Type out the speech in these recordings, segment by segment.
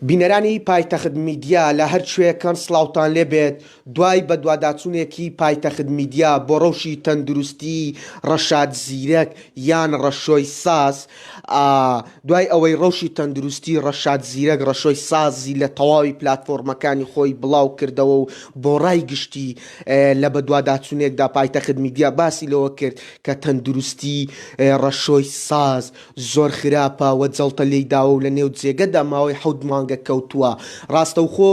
بینەرانی پایتەخت میدیا لە هەر کوێکەن سڵاوتان لێبێت دوای بەدواداچوونێکی پایتەخت میدیا بۆ ڕەوشی تەندروستی ڕەشاد زیرەک یان ڕەشۆی ساز دوای ئەوەی ڕەوشی تەندروستی ڕەشاد زیرەک ڕەشۆی سازی لە تەواوی پلتفۆرمەکانی خۆی بڵاو کردەوە و بۆ ڕای گشتی لە بەدواداچوونێکدا پایتەخت میدیا باسی لەوە کرد کە تەندروستی ڕەشۆی ساز زۆر خراپە و جەڵتە لێی داوە و لە نێو جێگەدا ماوەی حەوت مانگە کەوتووە. ڕاستەوخۆ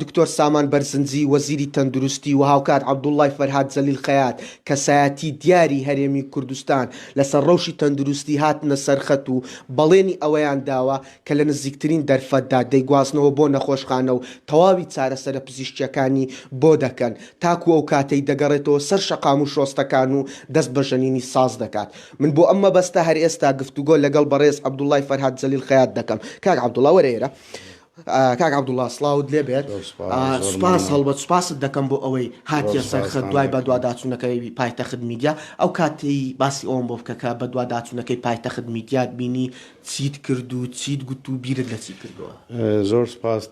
دکتۆر سامان بەرزنجی، وەزیری تەندروستی و هاوکات عەبدوڵڵای فەرهاد جەلیل خەیات، کەسایەتی دیاری هەرێمی کوردستان لەسەر ڕەوشی تەندروستی هاتنە سەرخەت و بەڵێنی ئەوەیان داوە، کە لە نزیکترین دەرفەتدا دەیگوازنەوە بۆ نەخۆشخانە و تەواوی چارەسەرە پزیشکییەکانی بۆ دەکەن، تاکو ئەو کاتەی دەگەڕێتەوە سەر شەقام و شۆستەکان و دەست بە ژەنینی ساز دەکات. من بۆ ئەم مەبەستە هەر ئێستا گفتوگۆ لەگەڵ بەڕێز عەبدوڵڵای فەرهاد جەلیل خەیات دەکەم. کاک عەبدوڵڵا وەرە ئێرە. کاک عەبدوڵڵا سڵاوت لێ بێت. سوپاس هەڵبەت سوپاست دەکەم بۆ ئەوەی هاتیە سەر خەت دوای بەدواداچوونەکەی پایتەخت میدیا. ئەو کاتەی باسی ئەوەم بۆ بکە کە بەدواداچوونەکەی پایتەخت میدیات بینی، چیت کرد و چیت گوت و بیرت لە چی کردووە؟ زۆر سوپاس،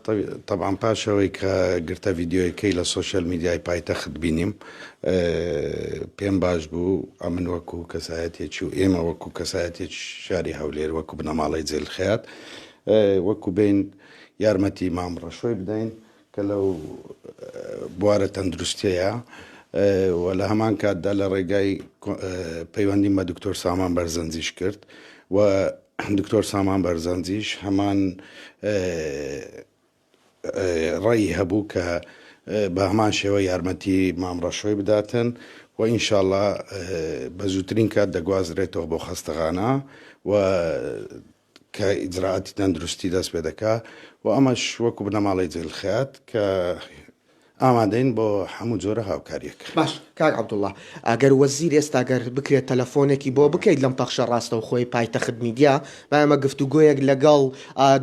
تەبعەن پاش ئەوەی کە گرتە ڤیدیۆیەکەی لە سۆشیال میدیای پایتەخت بینیم پێم باش بوو، ئەمن وەکوو کەسایەتێکی و ئێمە وەکوو کەسایەتێکی شاری هەولێر وەکوو بنەماڵەی جێلخەیات وەکوو بێین یارمەتی مام ڕەشۆی بدەین کە لەو بوارە تەندروستیەیە و لە هەمان کاتدا لە ڕێگای پەیوەندیم بە دکتۆر سامان بەرزەنجیش کرد و دکتۆر سامان بەرزەنجیش هەمان ڕێی هەبوو کە بە هەمان شێوە یارمەتی مامڕەشۆی بداتن و ئینشاالله بە زووترین کات دەگوازرێتەوە بۆ خەستەخانە و کە ئیجرائاتی تەندروستی دەست پێ دەکا و ئەمەش وەکو بنەماڵەی جەیل خەیات کە ئامادەین بۆ هەموو جۆرە هاوکاریەک. باش کاک عەبدوڵا ئەگەر وەزیر ئێستا گەر بکرێت تەلەفۆنێکی بۆ بکەیت لەم پەخشە ڕاستەوخۆی پایتەخت میدیا با ئێمە گفتوگۆیەک لەگەڵ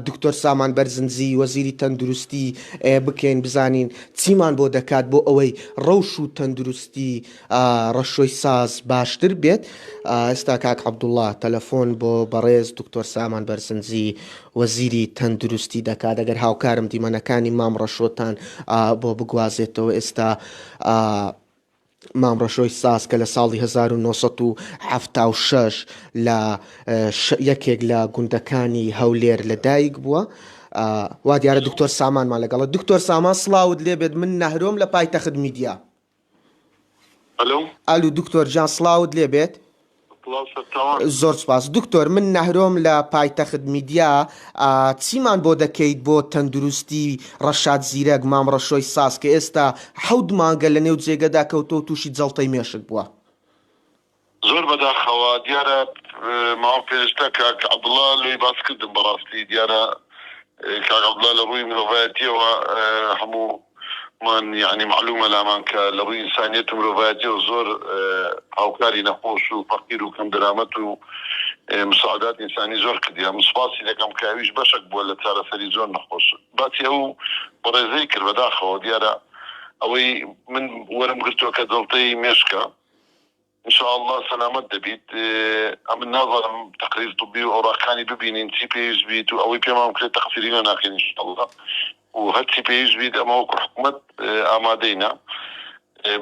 دکتۆر سامان بەرزنجی وەزیری تەندروستی بکەین بزانین چیمان بۆ دەکات بۆ ئەوەی ڕەوش و تەندروستی ڕەشۆی ساز باشتر بێت ئێستا کاک عەبدوڵڵا تەلەفۆن بۆ بەڕێز دکتۆر سامان بەرزنجی وەزیری تەندروستی دەکات ئەگەر هاوکارم دیمەنەکانی مام ڕەشۆتان بۆ بگوازێتەوە ئێستا مام ڕەشۆی ساز کە لە ساڵی 1970 لە یەکێک لە گوندەکانی هەولێر لەدایک بووە وا دیارە دکتۆر سامانمان لەگەڵە دکتۆر سامان سلااوت لێبێت من نەهرۆم لە پایتەخت میدیا ئەلۆ. ئەلو دکتۆر گیان سڵاوت لێ بێت. سڵاو سەرچاوان. زۆر سپاس دکتۆر من نەهرۆم لە پایتەخت میدیا ئا چیمان بۆ دەکەیت بۆ تەندروستی ڕەشاد زیرەک مام ڕەشۆی ساز کە ئێستا حەوت مانگە لە نێو جێگەدا کەوتوە و توشی جەڵتەی مێشک بوە. زۆر بەداخەوە دیارە ماوە پێشتە کاک عبداللە لۆی باس کردم بەڕاستی دیارە کاک عبداللە لە ڕووی مرۆڤایەتیەوە هەموو مان یەعنی معلومە لامان کە لە ڕووی ئینسانیەت و مرۆڤایەتیەوە زۆر هاوکاری نەخۆش و فەقیر و کەم دەرامەت و مساعدات ئینسانی زۆر کردیە من سوپاسی دەکەم کە ئەویش بەشەک بووە لە چارەسەری زۆر نەخۆش باسی ئەو بەڕێزەی کرد بەداخەوە دیارە ئەوەی من وەرم گرتوە کە جەڵتەی مێشکە. ان شاء اللە سەلامەت دەبیت ئەمن نازانم تقریر طبی و ئەوراقەکانی ببینین چی پێویست بیت و ئەوەی پێمان بکرێت تەقسیری لێ ناکەین ان شاء اللە و هەرچی پێویست بیت ئەمە وەکو حکومەت ئامادەینە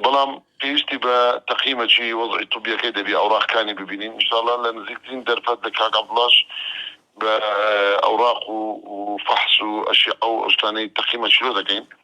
بەڵام پێویستی بە تەقیمەکی وەزعی طبیەکەی دەبی ئەوراقەکانی ببینین ان شاء اللە لە نزیکترین دەرفەت لە کاک عەبدوڵاش بە ئەوراق و فەحس و ئەشیعە و ئەو شتانەی تەقیمەکی لۆ دەکەین.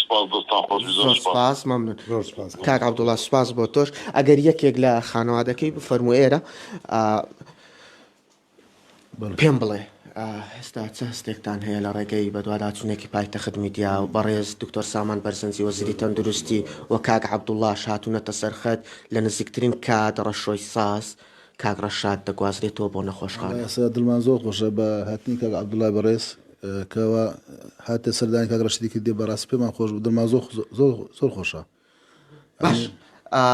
سوپاس دەستان خۆش بی زۆر سوپاس مەمنون کاک عبدوڵا سوپاس بۆ تۆش ئەگەر یەکێک لە خانەوادەکەی بفەرمو ئێرە پێم بڵێ هێستا چ هەستێکتان هەیە لە ڕێگەی بەدواداچوونێکی پایتەخت میدیا و بەڕێز دکتۆر سامان بەرزنجی وەزیری تەندروستی و کاک عبدوڵاش هاتوونەتە سەرخەت لە نزیکترین کات ڕەشۆی ساز کاک ڕەشاد دەگوازرێتەوە بۆ نەخۆشخانە. وەڵا ئێستا دڵمان زۆر خۆشە بە هاتنی کاک عبداللە بەڕێز کەوا هاتە سەردانی کاک ڕەشیدی کردی بەڕاستی پێمان خۆش بوو دڵمان زۆر زۆر زۆر خۆشە باش ئا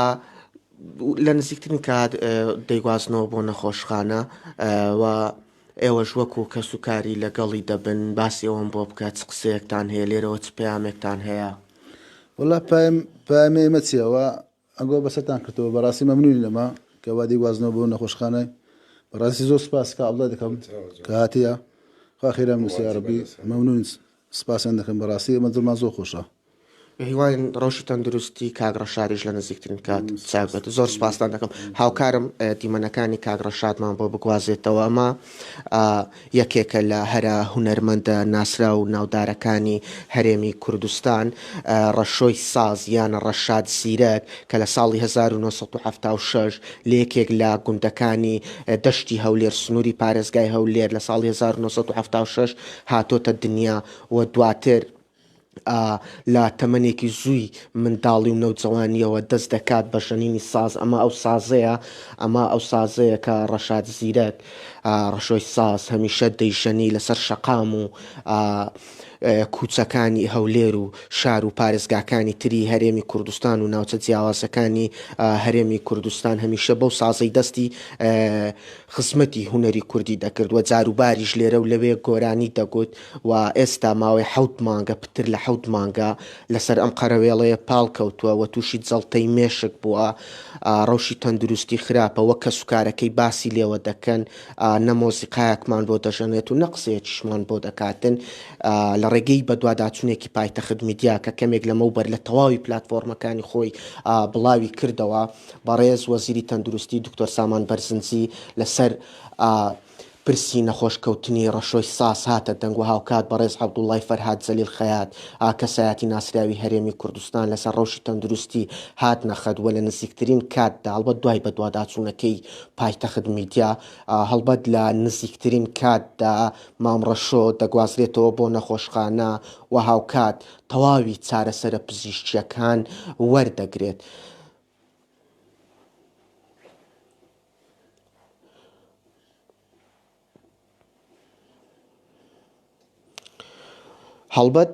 لە نزیکترین کات دەیگوازنەوە بۆ نەخۆشخانە و ئێوەش وەکو کەس و کاری لەگەڵی دەبن باسی ئەوەم بۆ بکات چ قسەیەکتان هەیە لێرەوە چ پەیامێکتان هەیە وەڵا پایم پامێ مەچیەوە ئەگۆ بەسەرتان کردەوە بەڕاستی مەمنونین لەمە کە وا دەیگوازنەوە بۆ نەخۆشخانە بەڕاستی زۆر سپاس کا ئەڵڵا دەکەم کە هاتیە خوا خێرام نووسی یاڕەبی مەمنونین سپاسیان دەکەم بەڕاستی ئێمە دڵمان زۆر خۆشە بەهیواین ڕەوشی تەندروستی کاک ڕەشادیش لە نزیکترین کات چاک بێت زۆر سپاستان دەکەم هاوکارم دیمەنەکانی کاک ڕەشادمان بۆ بگوازێتەوە ئەمە یەکێکە لە هەرە هونەرمەندە ناسراو و ناودارەکانی هەرێمی کوردستان، ڕەشۆی ساز یان ڕەشاد زیرەک کە لە ساڵی هەزار و نۆ سەد و حەفتا و شەش لە یەکێک لە گوندەکانی دەشتی هەولێر سنووری پارێزگای هەولێر لە ساڵی هەزار و نۆ سەد و حەفتا و شەش هاتۆتە دنیا و دواتر ئا لە تەمەنێکی زووی منداڵی و نەوجەوانییەوە دەست دەکات بە ژەنینی ساز، ئەمە ئەو سازەیە، ئەمە ئەو سازەیە کە ڕەشاد زیرەک، ئا ڕەشۆی ساز، هەمیشە دەیژەنی لەسەر شەقام و ئا کووچەکانی هەولێر و شار و پارێزگاکانی تری هەرێمی کوردستان و ناوچە جیاوازەکانی ئا هەرێمی کوردستان هەمیشە بەو سازەی دەستی خزمەتی هونەری کوردی دەکرد و جاروباریش لێرە و لەوێ گۆرانی دەگوت. و ئێستا ماوەی حەوت مانگە، پتر لە حەوت مانگە لەسەر ئەم قەرەوێڵەیە پاڵکەوتووە و تووشی جەڵتەی مێشک بووە، ڕەوشی تەندروستی خراپە، وەک کەسوکارەکەی باسی لێوە دەکەن، نە مۆسیقایەکمان بۆ دەژەنێت و نە قسەیەکیشمان بۆ دەکاتن، لە ڕێگەی بەدواداچوونێکی پایتەخت میدیا کە کەمێک لەمەوبەر لە تەواوی پلاتفۆرمەکانی خۆی بڵاوی کردەوە، بەڕێز وەزیری تەندروستی دکتۆر سامان بەرزنجی لەسەر پرسی نەخۆش کەوتنی ڕەشۆی ساز هاتە دەنگ و هاوکات بەڕێز عەبدوڵڵای فەرهاد زەلیل خەیات ئا کەسایەتی ناسراوی هەرێمی کوردستان لەسەر ڕەوشی تەندروستی هاتنە خەت وە لە نزیکترین کات دا هەڵبەت دوای بەدواداچوونەکەی پایتەخت میدیا ئا هەڵبەت لە نزیکترین کات دا مام ڕەشۆ دەگوازرێتەوە بۆ نەخۆشخانە و هاوکات تەواوی چارەسەرە پزیشکییەکان وەردەگرێت. هەڵبەت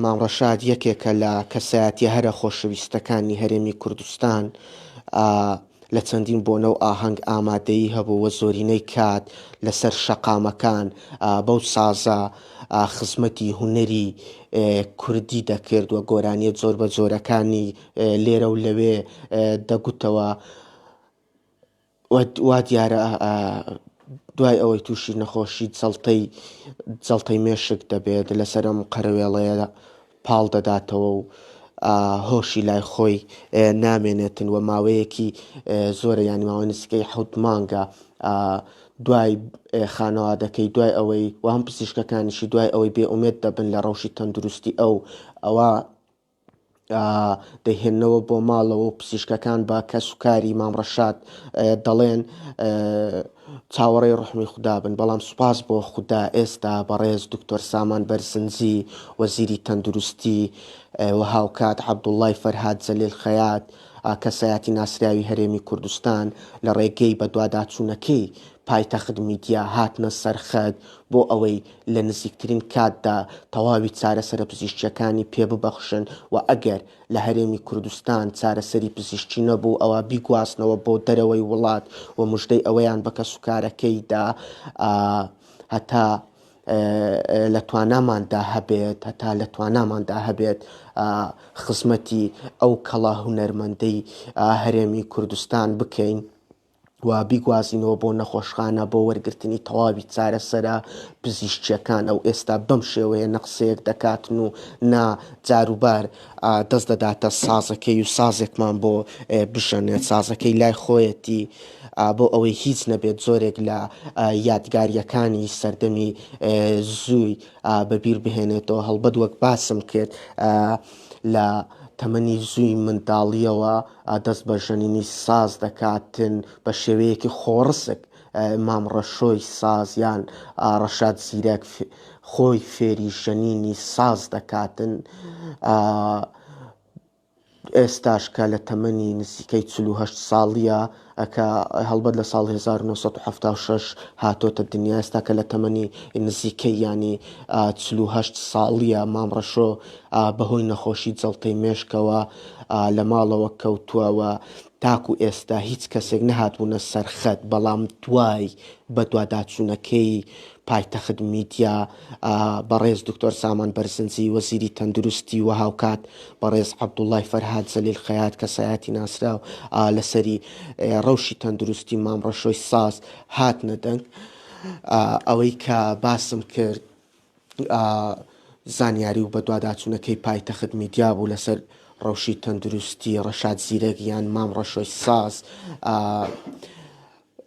مام ڕەشاد یەکێکە لە کەسایەتیە هەرە خۆشەویستەکانی هەرێمی کوردستان لە چەندین بۆنە و ئاهەنگ ئامادەیی هەبوو وە زۆرینەی کات لەسەر شەقامەکان بەو سازە خزمەتی هوەری کوردی دەکرد و گۆرانیە زۆر بە زۆرەکانی لێرە و لەوێ دەگوتەوە وا دیارە دوای ئەوەی تووشی نەخۆشی جەڵتەی جەڵتەی مێشک دەبێت لەسەر ئەم قەرەوێڵەیە پاڵ دەداتەوە و هۆشی لای خۆی نامێنێتن و ماوەیەکی زۆرە ینی ماوەی نسکەی حوت مانگە دوای خانەوادەکەی دوای ئەوەی وام پزیشکەکانیشی دوای ئەوەی بێ ئومێت دەبن لە ڕەوشی تەندروستی ئەو ئەوە دەیهێننەوە بۆ ماڵەوە و پزیشکەکان بە کەس و کاری مام ڕەشاد دەڵێن چاوەڕێی ڕحمی خودابن بەڵام سوپاس بۆ خودا ئێستا بەڕێز دکتۆر سامان بەرزنجی وەزیری تەندروستی و هاوکات عەبدوڵڵای فەرهاد جەلیل خەیات کەسایەتی ناسراوی هەرێمی کوردستان لە ڕێگەی بەدواداچوونەکەی پایتەخت میدیا هاتنە سەر خەت بۆ ئەوەی لە نزیکترین کاتدا تەواوی چارەسەرە پزیشکییەکانی پێ ببەخشن و ئەگەر لە هەرێمی کوردستان چارەسەری پزیشکی نەبوو ئەوا بیگوازنەوە بۆ دەرەوەی وڵات و مژدەی ئەوەیان بە کەسوکارەکەی دا هەتا لە تواناماندا هەبێت هەتا لە تواناماندا هەبێت خزمەتی ئەو کەڵە هونەرمەندەی هەرێمی کوردستان بکەین. و بیگوازینەوە بۆ نەخۆشخانە بۆ وەرگرتنی تەواوی چارەسەرە پزیشکیەکان ئەو ئێستا بەم شێوەیە نەقسەیەک دەکاتن و نا جاروبار دەست دەداتە سازەکەی و سازێکمان بۆ بژەنێت سازەکەی لای خۆیەتی بۆ ئەوەی هیچ نەبێت زۆرێک لە یادگاریەکانی سەردەمی زووی بەبیر بهێنێتەوە هەڵبەت وەک باسم کرد لە تەمەنی زووی منداڵیەوە دەست بە ژەنینی ساز دەکاتن بە شێوەیەکی خۆڕسک مام ڕەشۆی ساز یان ڕەشاد زیرەک خۆی فێری ژەنینی ساز دەکاتن ئێستاش کە لە تەمەنی نزیکەی 48 ساڵیە ە کە هەڵبەت لە ساڵ هەزار و نۆ سەد و حەفتا و شەش هاتۆتە دنیا ئێستا کە لە تەمەنی نزیکەی یانی چل و هەشت ساڵیە مام ڕەشۆ بە هۆی نەخۆشی جەڵتەی مێشکەوە لە ماڵەوە کەوتوە وە تاکو ئێستا هیچ کەسێک نەهاتبونە سەر خەت بەڵام دوای بەدواداچونەکەی پایتەخت میدیا، بەڕێز دکتۆر سامان بەرزنجی وەزیری تەندروستی و هاوکات بەڕێز عەبدوڵای فەرهاد زەلیل خەیات کەسایەتی ناسراو لەسەری ڕەوشی تەندروستی مام ڕەشۆی ساز هاتنە دەنگ ئەوەی کە باسم کرد زانیاری و بەدواداچوونەکەی پایتەخت میدیا بوو لەسەر ڕەوشی تەندروستی ڕەشاد زیرەک یان مام ڕەشۆی ساز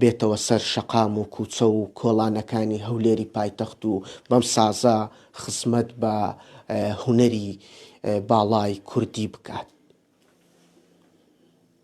بێتەوە سەر شەقام و کوچە و کۆڵانەکانی هەولێری پایتەخت و بەم سازە خزمەت بە هونەری باڵای کوردی بکات.